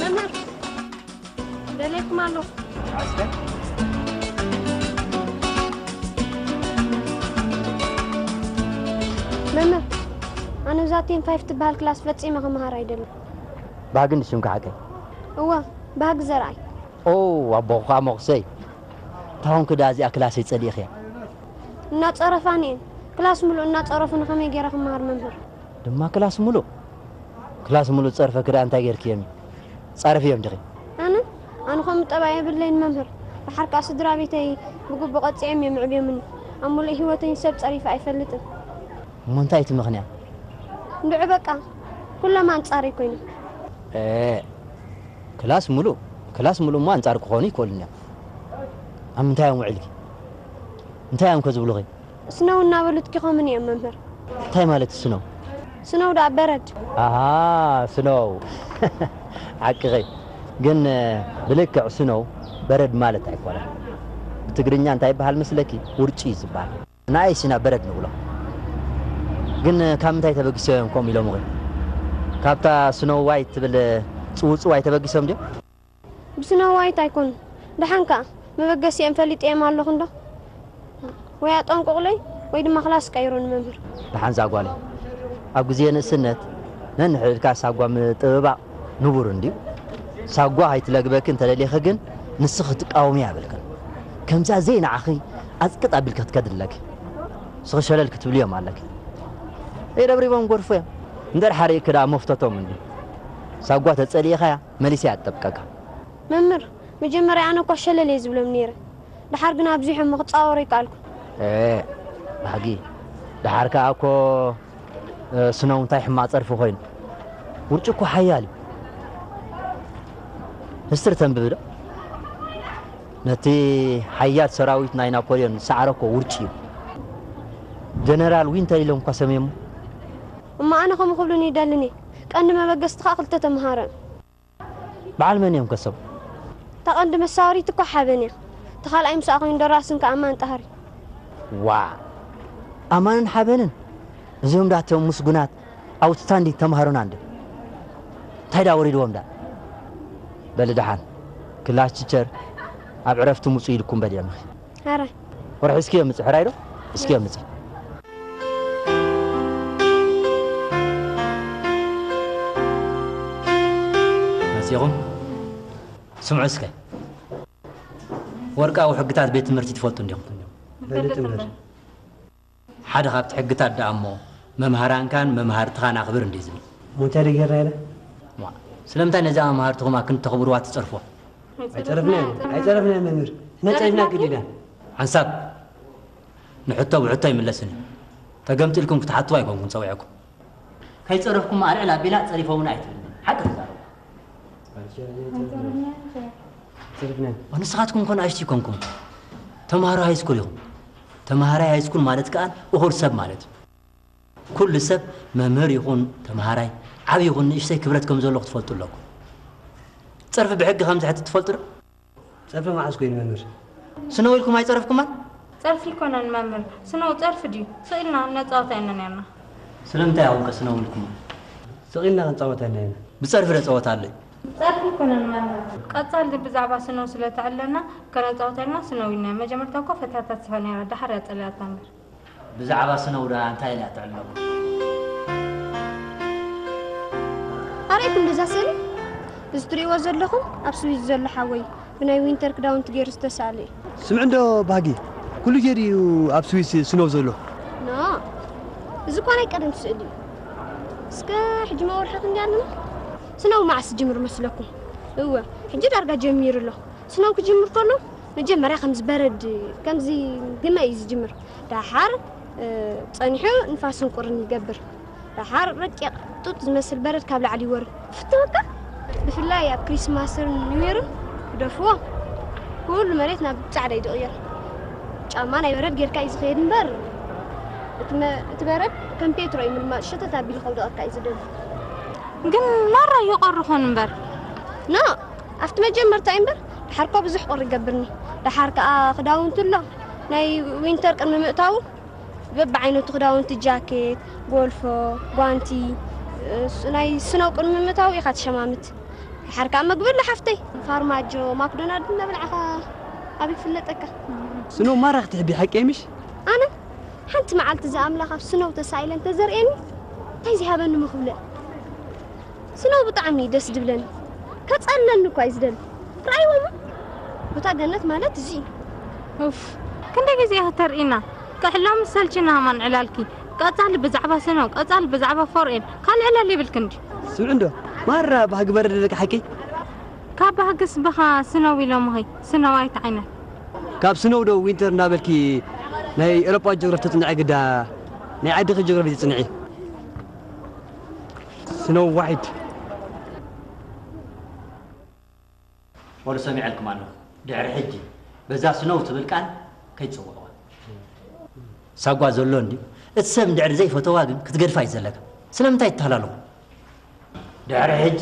መምህር ደልየኩም ኣለኹ መምህር ኣነ እዛ ቴን ፋይፍ ትበሃል ክላስ ፈፂመ ክምሃር ኣይደልን ባህጊ ንሽምካ ሓቀይ እወ ባህጊ ዘርኣይ ኦ ኣቦኹ ከዓ መቑሰይ ታሆን ክድኣ እዚኣ ክላሰይ ጸሊኢክያ። እናጸረፋኒ እየን ክላስ ምሉእ እናጸረፉኒ ከመይ ጌረ ክመሃር መምህር። ድማ ክላስ ምሉእ ክላስ ምሉእ ዝጸርፈኪ ድኣ እንታይ ጌርክዮም እዩ ጻረፍዮም ዲኺ። ኣነ ኣነ ከምኡ ጠባይ የብለይን መምህር ድሓር ከኣ ስድራቤተይ ብግቡእ ቀጺዐም እዮም ኣዕብዮምኒ ኣብ ምሉእ ሂወተይ ሰብ ጸሪፈ ኣይፈልጥን። እሞ እንታይ እዩ እቲ ምኽንያት። እንድዒ በቃ ኩሎም ኣንጻረይ ኮይኖም። ኤእ ክላስ ምሉእ ክላስ ምሉእ እሞ ኣንጻር ክኾኑ ይክእሉን እዮም። ኣብ ምንታይ እዮም ውዒልኪ? እንታይ እዮም ከ ዝብሉኺ? ስነው እናበሉ ትኪኾምኒ እዮም መምህር። እንታይ ማለት እዩ ስነው? ስነው ደኣ በረድ። ኣሃ ስነው ሓቅኺ። ግን ብልክዕ ስነው በረድ ማለት ኣይኮነን። ብትግርኛ እንታይ ይበሃል መስለኪ? ውርጪ እዩ ዝበሃል። ንኣይስ ኢና በረድ ንብሎ። ግን ካብ ምንታይ ተበጊሶም እዮም ከምኡ ኢሎምኺ? ካብታ ስነው ዋይት ትብል ጽውጽዋይ ተበጊሶም ድዮም? ብስነ ዋይት ኣይኮኑን ደሓን ከኣ መበገሲኦም ፈሊጠዮም ኣለኹ እንዶ ወይ ኣጠንቁቑለይ ወይ ድማ ክላስ ቀይሩኒ መምህር። ደሓን እዛ ጓለይ ኣብ ግዜ ንእስነት ነንሕድ ኢልካ ሳጓ ምጥብባቕ ንቡር እንድዩ። ሳጓ ከይትለግበኪ እንተደሊኺ ግን ንስኺ ክትቃወምያ የብልክን። ከምዛ ዘይንዓኺ ኣጽቅጥ ኣቢልኪ ክትከዲ ኣለኪ። ንስኺ ሸለል ክትብልዮም ኣለኪ። ደይረብሪቦም ክጎድፉ እዮም። እንድሕር ሓሪቕኪ ደኣ መፍቶቶም እንድዩ። ሳጓ ተጸሊኢኻያ መሊሰ ኣጠብቀካ። መምህር መጀመርያ ኣነ እኳ ሸለል እየ ዝብሎም ነይረ ደሓር ግና ኣብዚሖሞ ክጻወሩ ኣይከኣልኩን። ኤእ ባህጊ ደሓር ከኣ እኮ ስኖው እንታይ ሕማቅ ጸርፊ ኮይኑ ውርጪ እኮ ሓያል እዩ ምስጢር ተንብብ ዶ ነቲ ሓያል ሰራዊት ናይ ናፖልዮን ዝሰዓረ እኮ ውርጪ እዩ ጀነራል ዊንተር ኢሎም እኳ ሰምየሞ እሞ ኣነ ከምኡ ክብሉኒ ይደልን እየ ቀንዲ መበገስቲ ከኣ ክልተ ተምሃሮ እዮም። በዓል መን እዮም ከ ሰቡ? እታ ቀንዲ መሳወሪት እኮ ሓበን እያ እቲ ካልኣይ ምስኣ ኮይኑ ደራስን ከኣ ኣማን ጣህሪ። ዋእ ኣማንን ሓበንን እዚኦም ድኣ እቶም ምስጉናት ኣውትስታንዲንግ ተምሃሮና እንድዮም እንታይ ድኣ ወሪድዎም ድኣ በሊ ድሓን ክላስ ቲቸር ኣብ ዕረፍቲ ምጹ ኢልኩም በሊዕምኺ። ሕራይ ወርሒ እስኪ የምፅእ ሕራይ ዶ እስኪ የምፅእ መፂኹም ስምዑ እስከ ወርቃዊ ሕግታት ቤት ትምህርቲ ትፈልጡ እንዲኹም ፈልጥ እምበር ሓደ ካብቲ ሕግታት ደኣ'ሞ መምሃራንካን መማህርትኻን ኣኽብር እንድዩ ዝብል። እሞ እንታይ ደኣ ጌርና ኢና? እዋእ ስለምንታይ ነዛ መማህርትኹም ኣክን እተኽብርዋ ትጸርፉዋ? ኣይጸረፍናያን ኣይጸረፍናያን መምህር፣ ነጸሪፍና ግዲ ኢና። ሓንሳብ ንሕቶ ብሕቶ ኣይምለስን እዩ። ተገምጢልኩም ክትሓትዋ ኣይኮንኩን ጸዊዐኩም። ከይጸረፍኩማ ኣልዕል ኣቢላ ጸሪፎሙና ኣይትብል ሓቂ ተዛረቡ። ኣይጸረፍናያን ኣይጸረፍናያን። ንስኻትኩም እኮ ንኣሽቱ ኣይኮንኩምን ተማሃሮ ሃይስኩል ኢኹም። ተመሃራይ ሃይስኩል ማለት ከኣ እኹል ሰብ ማለት እዩ። ኩሉ ሰብ መምህር ይኹን ተመሃራይ፣ ዓቢ ይኹን ንእሽተይ ክብረት ከም ዘለዎ ክትፈልጡ ኣለኩም። ጸርፊ ብሕጊ ከም ዝሕቲ ትፈልጡ ዶ? ጸርፊ መዓስ ኮይኑ መምህር? ስነው ኢልኩም ኣይጸረፍኩማን? ጸርፊ ኣይኮነን መምህር። ስነው ጸርፊ ድዩ? ስቕ ኢልና እነጻወታ ኢና ኔርና። ስለምንታይ ኢኹም ከ ስነው ኢልኩማ? ስቕ ኢልና ክንጻወታ ኢና ኔርና። ብጸርፊ ዶ ጸወታ ኣሎ? ጸርፊ ኣይኮነን ማና። ቀጻሊ ግን ብዛዕባ ስነው ስለ ተዕለና ከነጻውታ ኢልና ስነው ኢልናያ መጀመርታ እኮ ፈትያታ ትስሕቅ ነይራ ደሓር እያ ጸሊኣታ እምበር። ብዛዕባ ስነው ደኣ እንታይ ኢላ ትዕለሙ። ኣርኣይ ክንደዛ ስእሊ እዚ ትርእይዎ ዘለኹም ኣብ ስዊዝ ዘሎ ሓወይ ብናይ ዊንተር ክዳውንቲ ገይሩ ዝተሳእለ እዩ። ስምዕ እንዶ ባህጊ ኩሉ ግዜ ድዩ ኣብ ስዊስ ስነው ዘሎ? ኖ እዚ እኳ ናይ ቀደም ስእሊ እዩ። እስከ ሕጂ መወርሒ ክንደይ ኣለና? ስነው መዓስ ዝጅምር መስለኩም? እወ ሕጂ ዳርጋ ጀሚሩ ኣሎ። ስነው ክጅምር ከሎ መጀመርያ ከምዚ በረድ ከምዚ ግመ እዩ ዝጅምር። ደሓር ጸኒሑ ንፋስን ቁርን ይገብር። ደሓር ረቂቕ ጡጥ ዝመስል በረድ ካብ ላዕሊ ይወርድ። ፍትወካ ብፍላይ ኣብ ክሪስማስን ኒውየርን ክደፍዎ ኩሉ መሬት ናብ ጻዕዳ እዩ ዝቕየር። ጫማ ናይ በረድ ጌርካ እዩ ዝኸየድ እምበር እቲ በረድ ከም ፔትሮ እዩ ምልማጽ ሸተት ኣቢሉ ከውደቐካ እዩ ዝደሊ። ግን ማራ ይቆሪ ኾን እምበር ኖ ኣብቲ መጀመርታ እዩ እምበር ድሓር እኳ ብዙሕ ቁሪ ይገብርኒ ድሓር ከዓ ክዳውንቱ ኣሎ ናይ ዊንተር ቅድሚ ምእታዉ በብዓይነቱ ክዳውንቲ ጃኬት ጎልፎ ጓንቲ ናይ ስነው ቅድሚ ምእታዉ ኢኻ ትሸማምት ድሓር ከዓ መግቢ ኣሎ ሓፍተይ ፋርማጆ ማክዶናልድ እናበልዓኻ ኣብ ይፍለጠካ ስነው ማራ ክትሕቢ ሓቀይ ምሽ ኣነ ሓንቲ መዓልቲ እዚ ኣምላኽ ኣብ ስነው ተሳኢለ እንተዘርእየኒ እንታይ ዘይሃበኒ ምክብለ ስነው ብጣዕሚ እዩ ደስ ድብለኒ ከጸለኒ እኳ እዩ ዝደሊ ረኣይዎ እሞ ቦታ ገነት ማለት እዚ እዩ ኡፍ ክንደይ ግዜ ከተርእና ክሕሎ ምስ ሰልችና ሃማን ዕላልኪ ቀጻሊ ብዛዕባ ስነው ቀጻሊ ብዛዕባ ፎርኤን ካልእ ዕላል የብልክን ድዩ ስምዕ እንዶ ማራ ባህጊ በረደለካ ሓቂ ካብ ባህግስ ብኻ ስነው ኢሎምኺ ስነው ኣይትዓይነን ካብ ስኖው ዶ ዊንተር እንዳበልኪ ናይ ኤሮጳ ጆግራፊ ተጽንዒ ግዳ ናይ ዓድኺ ጆግራፊ ጽንዒ። ስኖው ዋይት። ወሉ ሰሚዐልኩም ኣለኹ ድሕሪ ሕጂ በዛ ስኖው ትብል ቃል ከይትጽውዕዋ። ሳጓ ዘሎ እንድዩ እቲ ሰብ እንድሕሪ ዘይፈተዋ ግን ክትገድፋ እዩ ዘለካ ስለምንታይ ትታሃላለኹ። ድሕሪ ሕጂ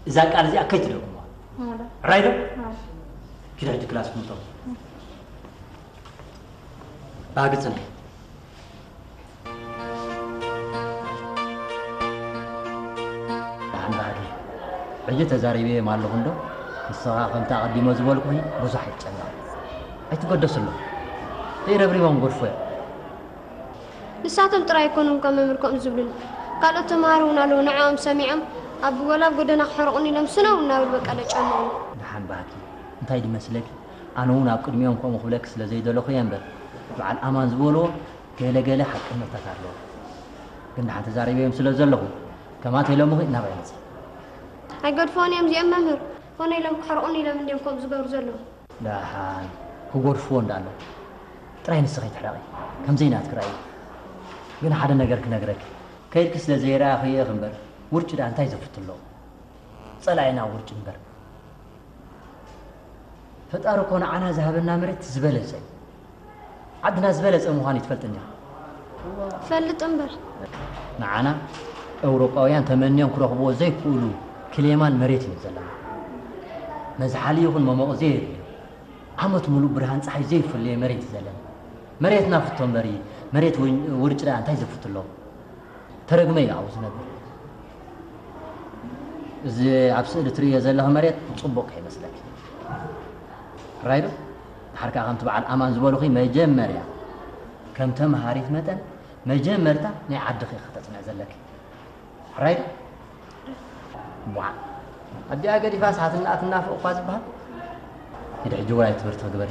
እዛ ቃል እዚኣ ከይትደግሙዋ ራይ ዶ ኪድ ሕጂ ክላስ ክምቶ ባህጊ ፅንሒ ደሓን ባህጊ ሕጂ ተዛሪበዮም ኣለኹ እንዶ ንስኻ ከምቲ ኣቐዲሞ ዝበልኩኺ ብዙሕ ኣይትጨነቕ ኣይትገደስሎም ዘይረብሪቦም ጎድፎ እዮም ንሳቶም ጥራይ ኣይኮኑን እኳ መምህር ከምኡ ዝብሉኒ፣ ካልኦት ተመሃሮ እውን ኣለዉ፣ ንዕኦም ሰሚዖም ኣብ ወላ ኣብ ጎደና ክሕርቑኒ ኢሎም ስነው እናበሉ በቃ ለጨንቑኒ። ደሓን ባህቲ፣ እንታይ ድዩ መስለኪ፣ ኣነ እውን ኣብ ቅድሚኦም ከምኡ ክብለኪ ስለ ዘይደለኹ እየ እምበር፣ በዓል ኣማን ዝበሉዎ ገለ ገለ ሓቅነታት ኣለዎ። ግን ደሓን ተዛሪበዮም ስለ ዘለኹ፣ ከማተይ ሎምኺ ናባይ መጺኦም። ኣይገድፍዎን እዮም እዚኦም መምህር፣ ኮነ ኢሎም ክሕርቑኒ ኢሎም እንድዮም ከምኡ ዝገብሩ ዘለዉ። ዳሓን ክጎድፍዎ እንዳለው ጥራይ ንስኺ ትሕረቒ ከምዘይ ናትኪ ራኢ ግን ሓደ ነገር ክነግረኪ ከይድኪ ስለ ዘይረኣኽዬ ኢኺ እምበር ውርጪ ዳኣ እንታይ ዘፍት ኣለዎ ጸላኢና ውርጪ እምበር ፈጣሪ እኮ ንዓና ዝሃበና መሬት እቲ ዝበለጸ እዩ። ዓድና ዝበለጸ ምዃኑ ኣይትፈልጥን ዲኻ? እፈልጥ እምበር። ንዓና ኤውሮጳውያን ተመንዮም ክረኽብዎ ዘይክእሉ ክሌማን መሬትን እዩ ዘለና። መዝሓሊ ይኹን መሞቒ ዘየድልዮ፣ ዓመት ምሉእ ብርሃን ጸሓይ ዘይፍለዮ መሬት እዩ ዘለና። መሬት ናፍቶ እምበሪ መሬት ውርጭ ደኣ እንታይ ዘፍቱ ኣለዎ? ተረግመ እዩ ኣብኡ ዝነብር። እዚ ኣብ ስእሊ ትርእዮ ዘለኺ መሬት ጽቡቕ ከይመስለኪ። ራይዶ ድሓር ከኣ ከምቲ በዓል ኣማን ዝበሉኺ መጀመርያ ከም ተምሃሪት መጠን መጀመርታ ናይ ዓድኺ ኢኺ ከተጽንዒ ዘለኪ ሕራይ ዶ እምቧዕ ኣዲኣ ገዲፋስ ሓትናኣ ትናፍቕ እኳ ዝበሃል ኪዲ ሕጂ ውራይ ትምህርቲ ክግበሪ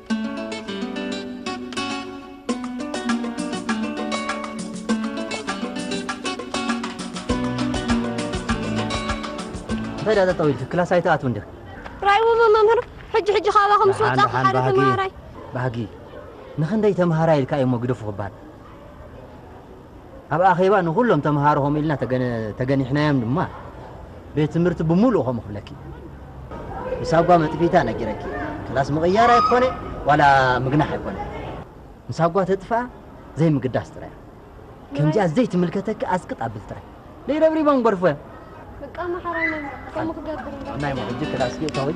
እንታይ ድኣ ጠጠው ኢልኪ ክላስ ኣይትኣትውን ዲኺ? ራይውቡ መምህር ሕጂ ሕጂ ካባኹም ምስ ደሓን ወጻኹ ደሓን ሓደ ባህጊ ተመሃራይ ባህጊ ንኽንደይ ተምሃራይ ኢልካ እዩሞ ግደፉ ክበሃል ኣብ ኣኼባ ንኹሎም ተመሃሮ ከምኡ ኢልና ተገኒሕናዮም ድማ ቤት ትምህርቲ ብምሉኡ ከምኡ ክብለኪ ንሳጓ መጥፊታ ነጊረኪ ክላስ ምቕያር ኣይኮነ ዋላ ምግናሕ ኣይኮነ ንሳጓ ተጥፍኣ ዘይምግዳስ ጥራይ ከምዚኣ ዘይትምልከተኪ ኣስቅጥ ኣብል ጥራይ ለይረብሪቦም ጎርፎ በቃ መሓራይ ነይ ከምኡ ክገብር ናይ ሞ ሕጂ ክላስ ጌታወይ